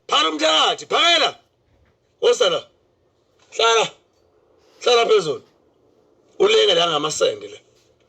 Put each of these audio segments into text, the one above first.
Phakela umthakathi, phakela. Wosala. Hlala. Hlala phezulu. Ulenge la ngamasende la.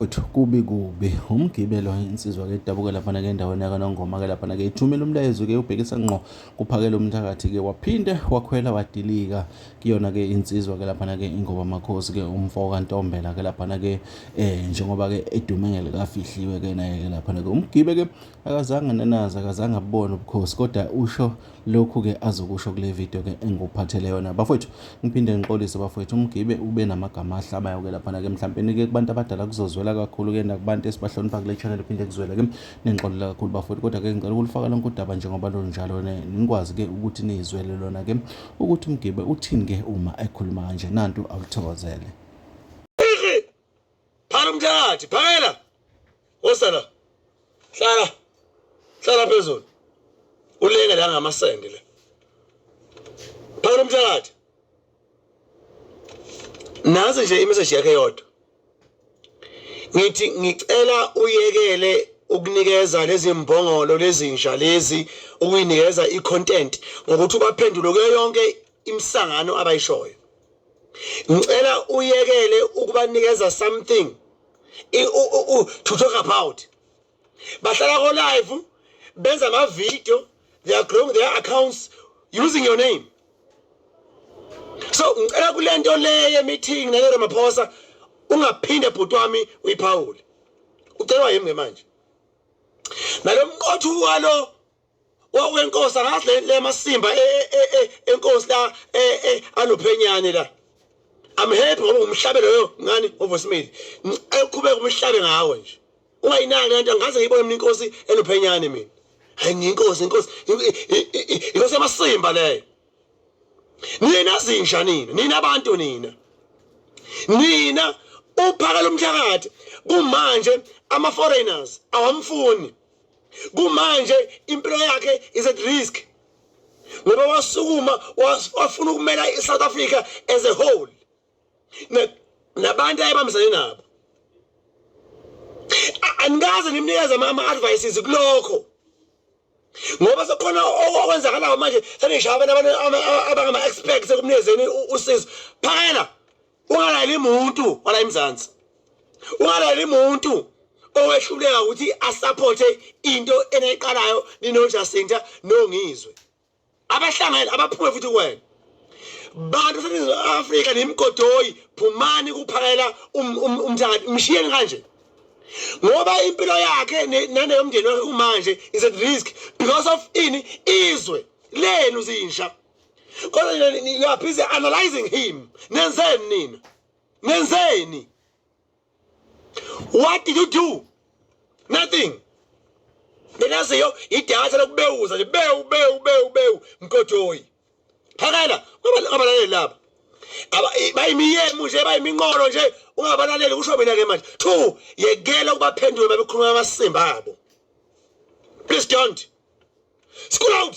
Uthi kubi kubi umgibelo insizwa ke idabuke lapha ke endaweni yakanongoma ke lapha ke ithumela umlayezo ke ubhekisa ngqo kuphakela umthakathi ke waphinde wakhwela wadilika kuyona ke insizwa ke lapha ke ingoba makhosi ke umfo kantombela ke lapha ke eh njengoba ke edume ngelikafihliwe ke naye ke lapha ke umgibe ke Akazange anenaze, akazange abubone ubukhosi kodwa usho lokhu-ke azokusho kule video-ke engikuphathele yona. Bafowethu, ngiphinde ngixolise bafowethu, umgibe ube namagama ahlabayo-ke laphana-ke. Mhlampeni-ke kubantu abadala kuzozwela kakhulu-ke nakubantu esibahlonipha kule channel phinde kuzwele-ke. Ningixolela kakhulu bafowethu, kodwa-ke ngicela ukulufaka lonke udaba njengoba lunjalo nikwazi-ke ukuthi niyizwele lona-ke ukuthi umgibe uthini-ke uma ekhuluma kanje. Nantu awulithokozele. Phana umthakathi, phakela. Wosala. Hlala. Hlala phezulu. Ulenge la ngamasende la. Phakela umthakathi. Nazi nje imessage yakhe yodwa. Ngithi ngicela uyekele ukunikeza lezi mbongolo lezinja lezi ukuyinikeza i-content ngokuthi ubaphendule kuyo yonke imisangano abayishoyo ngicela uyekele ukubanikeza something to talk about bahlala ko live benza ama video they are growing their accounts using your name so ngicela kulento le ye meeting ne Ramaphosa ungaphinde bhuti wami uyiphawule ucelwa yimi manje nalomqothu walo wawenkosi angazi le le masimba e, e, e, enkosi la anophenyane la I'm happy ngoba umhlabe loyo ngani ovosimile eqhubeka umhlabe ngawe nje ungayinaki lento angaze ngiyibone mina inkosi enophenyane mina hayi ngiyinkosi inkosi inkosi yamasimba leyo nina zinja nina nina abantu nina nina uphakela umthakathi kumanje ama foreigners awamfuni kumanje impilo yakhe is at risk ngoba wasukuma wafuna ukumela i-south africa as a whole nabantu ayebambisane nabo anikaze nimnikeze ama-advices kulokho ngoba sekukhona okwenzakalayo manje senishaya abantu abangama-expect sekumnikezeni usizo phakela ungalaleli muntu wala emzansi ungalaleli muntu owehluleka ukuthi asupporte into eneqalayo ninojasinta nongizwe abahlangene abaphume futhi kuwena bantu seningizimu afrika nimigodoyi phumani kuphakela um-, um-, umthakathi mshiyeni kanje ngoba impilo yakhe naneyomndeni wakhe kumanje is at risk because of ini izwe lenu zinsha kodwa nina ni- you are busy analyzing him nenzeni nina nenzeni what did you do nothing benaziyo idatha lokubewuza nje bewu bewu bewu bewu mgodoyi phakela ungabalaleli laba Aba- i- bayimiyemu nje bayiminqolo nje ungabalaleli kusho mina ke manje two yekela ukubaphendula uma bekhuluma amasimba abo please don't school out